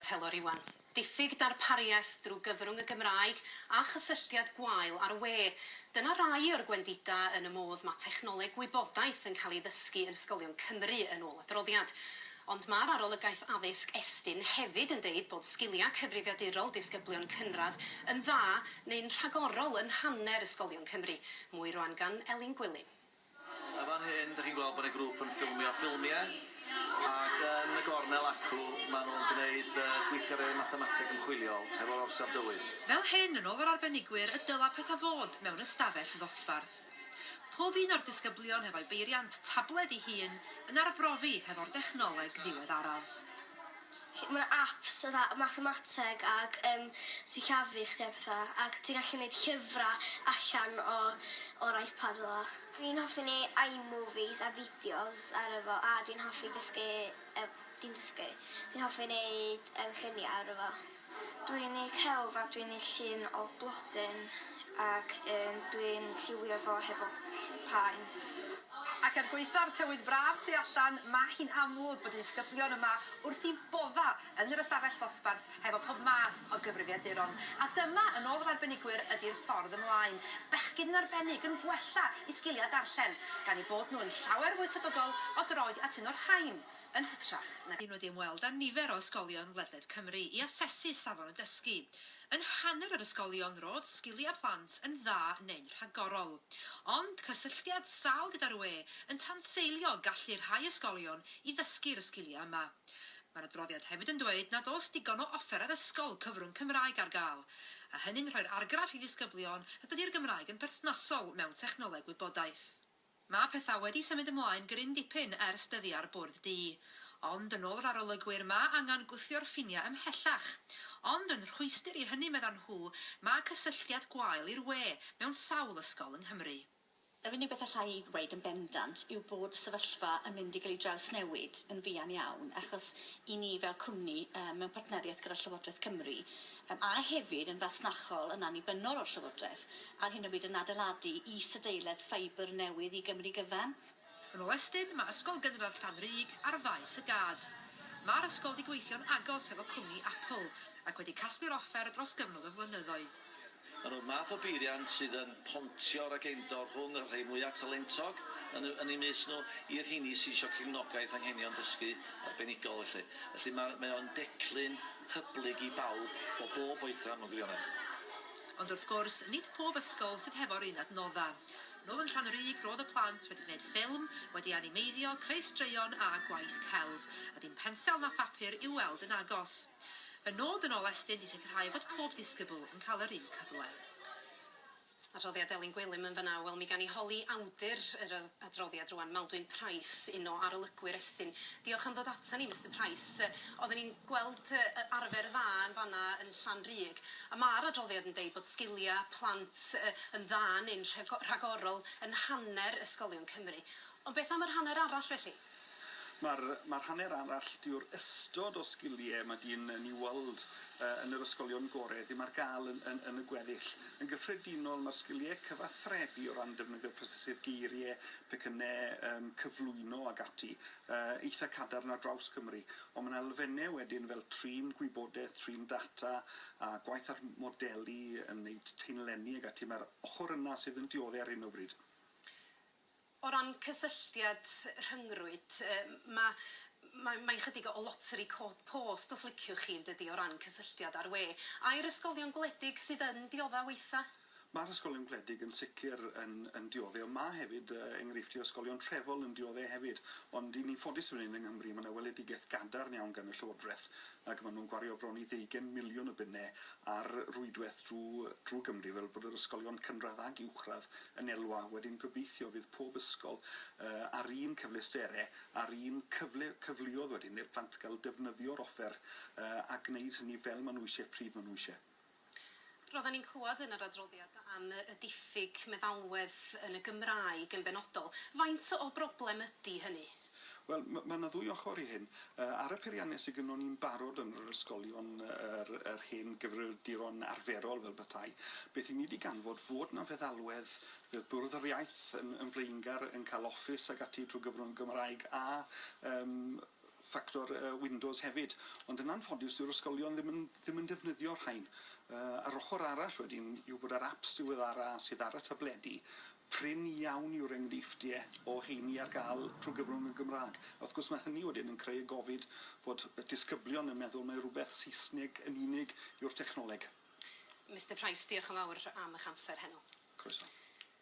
Telor Iwan. Diffyg darpariaeth drwy gyfrwng y Gymraeg a chysylltiad gwael â'r we. Dyna rai o'r gwendidau yn y modd mae technoleg gwybodaeth yn cael ei ddysgu yn ysgolion Cymru, yn ôl adroddiad. Ond mae'r Arolygaeth Addysg Estyn hefyd yn deud bod sgiliau cyfrifiadurol disgyblion cynradd yn dda neu'n rhagorol yn hanner ysgolion Cymru. Mwy rwan gan Elin Gwilym. Yn fan hyn dych chi'n gweld bod y grŵp yn ffilmio ffilmiau ac yn y gornel acw maen nhw'n gwneud gweithgareddau mathemateg ymchwiliol hefo'r orsaf dywydd. Fel hyn, yn ôl yr arbenigwyr, y dylai pethau fod mewn ystafell ddosbarth. Pob un o'r disgyblion hefo'i beiriant tabled ei hun yn arbrofi hefo'r dechnoleg ddiweddaraf. ma' apps fatha mathemateg ag yym sillafu chdi a petha ac ti'n gallu neud llyfra allan o o'r iPad fel 'a. Dwi'n hoffi neu' I-movies a fideos arno fo a dwi'n hoffi dysgu yy dim dysgu dwi'n hoffi neud yym llunia' arno fo. Dwi'n neu' celf a dwi'n neu' llun o blodyn ac yym dwi'n lliwio fo hefo ll- paent. Ac er gwaetha'r tywydd braf tu allan, mae hi'n amlwg bod y disgyblion yma wrth eu bodda' yn yr ystafell ddosbarth hefo pob math o gyfrifiaduron. A dyma, yn ôl yr arbenigwyr, ydi'r ffordd ymlaen. Bechgyn yn arbennig yn gwella eu sgiliau darllen, gan eu bod nhw yn llawer fwy tebygol o droi at un o'r rhain yn hytrach na. Rydyn wedi ymweld â nifer o ysgolion ledled Cymru i asesu safon y dysgu. Yn hanner yr ysgolion ro'dd sgilia plant yn dda neu'n rhagorol. Ond cysylltiad sâl gyda'r ŵe yn tanseilio gallu rhai ysgolion i ddysgu'r ysgilia yma. Mae'r adroddiad hefyd yn dweud nad o's digon o offer addysgol cyfrwng Cymraeg ar ga'l. A hynny'n rhoi'r argraff i ddisgyblion nad ydi'r Gymraeg yn perthnasol mewn technoleg wybodaeth. Mae pethau wedi symud ymlaen gryn dipyn ers dyddiau'r Bwrdd Du. Ond, yn ôl yr arolygwyr, mae angen gwthio'r ffiniau ymhellach. Ond, yn rhwystr i hynny, meddan nhw, mae cysylltiad gwael i'r we mewn sawl ysgol yng Nghymru. Yr unig beth alla i ddweud yn bendant yw bod y sefyllfa yn mynd i gael ei drawsnewid yn fuan iawn, achos i ni fel cwmni, mewn partneriaeth gyda Llywodraeth Cymru, Yym, a hefyd yn fasnachol yn annibynnol o'r Llywodraeth ar hyn o bryd yn adeiladu is-adeiledd ffeibr newydd i Gymru gyfan. Yn ôl Estyn, mae Ysgol Gynradd Llanrug ar faes y gad. Mae'r ysgol wedi gweithio'n agos hefo cwmni Apple ac wedi casglu'r offer dros gyfnod o flynyddoedd. Maen nhw'r math o beiriant sydd yn pontio rageindor rhwng y rhai mwyaf talentog yn y yn eu mys nhw i'r rheini sydd eisiau cefnogaeth anghenion dysgu arbenigol felly. Felly, mae mae o'n declyn hyblyg i bawb o bob oedran mewn gwirionedd. Ond wrth gwrs, nid pob ysgol sydd hefo'r un adnoddau. Nhw yn Llanrug roedd y plant wedi gwneud ffilm, wedi animeiddio, creu straeon a gwaith celf, a dim pensel na phapur i'w weld yn agos. Fy nod yn ôl Estyn 'di sicrhau fod pob disgybl yn cael yr un cyfle. Adroddiad Elin Gwilym yn fan'na. Wel, mi gawn ni holi awdur yr adroddiad rŵan, Maldwyn Price, un o arolygwyr Estyn. Diolch am ddod aton ni, Mister Price. Oedden ni'n gweld y arfer dda yn fan'na yn Llanrug, a ma'r adroddiad yn deud bod sgilia' plant yn dda neu'n rhagorol yn hanner ysgolion Cymru. Ond beth am yr hanner arall felly? Mae'r mae'r hanner arall, dyw'r ystod o sgiliau mae dyn yn ei weld yn yr ysgolion gorau ddim ar gael yn yn yn y gweddill. Yn gyffredinol, mae'r sgiliau cyfathrebu o ran defnyddio prosesydd geiriau, pecynnau, yym cyflwyno ac ati, yy eitha' cadarn ar draws Cymru. Ond mae 'na elfennau wedyn fel trin gwybodaeth, trin data a gwaith ar modelu yn wneud teunlenni ac ati, mae'r ochr yna sydd yn diodde' ar hyn o bryd. O ran cysylltiad rhyngrwyd, mae mae mae'n chydig o loteri cod post os liciwch chi, yn dydi, o ran cysylltiad a'r we. Ai'r ysgolion gwledig sydd yn diodda' weitha'? Mae'r ysgolion gwledig yn sicr yn yn diodde', ond mae hefyd enghreifftiau o ysgolion trefol yn diodde' hefyd. Ond 'yn ni'n ffodus fan hyn yng Nghymru, mae 'na weledigaeth gadarn iawn gan y Llywodraeth ac maen nhw'n gwario bron i ddeugain miliwn o bunne a'r rwydwaith drwy Gymru fel bod yr ysgolion cynradd ag uwchradd yn elwa, wedyn gobeithio fydd pob ysgol â'r un cyfleusterau a'r un cyfle, cyfleoedd wedyn i'r plant gael defnyddio'r offer a gwneud hynny fel maen nhw eisiau, pryd maen nhw eisiau. Roedden ni'n clywed yn yr adroddiad am y diffyg meddalwedd yn y Gymraeg yn benodol. Faint o broblem ydy hynny? Wel, mae 'na ddwy ochr i hyn. Ar y peiriannau sy gynnon ni'n barod yn yr ysgolion, yr yr hen gyfrifiaduron arferol fel petai, beth 'yn ni 'di ganfod fod 'na feddalwedd, fydd Bwrdd yr Iaith yn yn flaengar yn ca'l office ag ati trwy gyfrwng y Gymraeg a yym ffactor yy Windows hefyd. Ond yn anffodus dyw'r ysgolion ddim yn ddim yn defnyddio'r rhain. Yy yr ochr arall wedyn yw bod yr aps diweddara sydd ar y tabledi Prin iawn yw'r enghreifftiau o heini ar gael trwy gyfrwng y Gymraeg. Wrth gwrs, mae hynny wedyn yn creu y gofid fod disgyblion yn meddwl mai rhywbeth Saesneg yn unig yw'r technoleg. Mister Price, diolch yn fawr am eich amser heno. Croeso.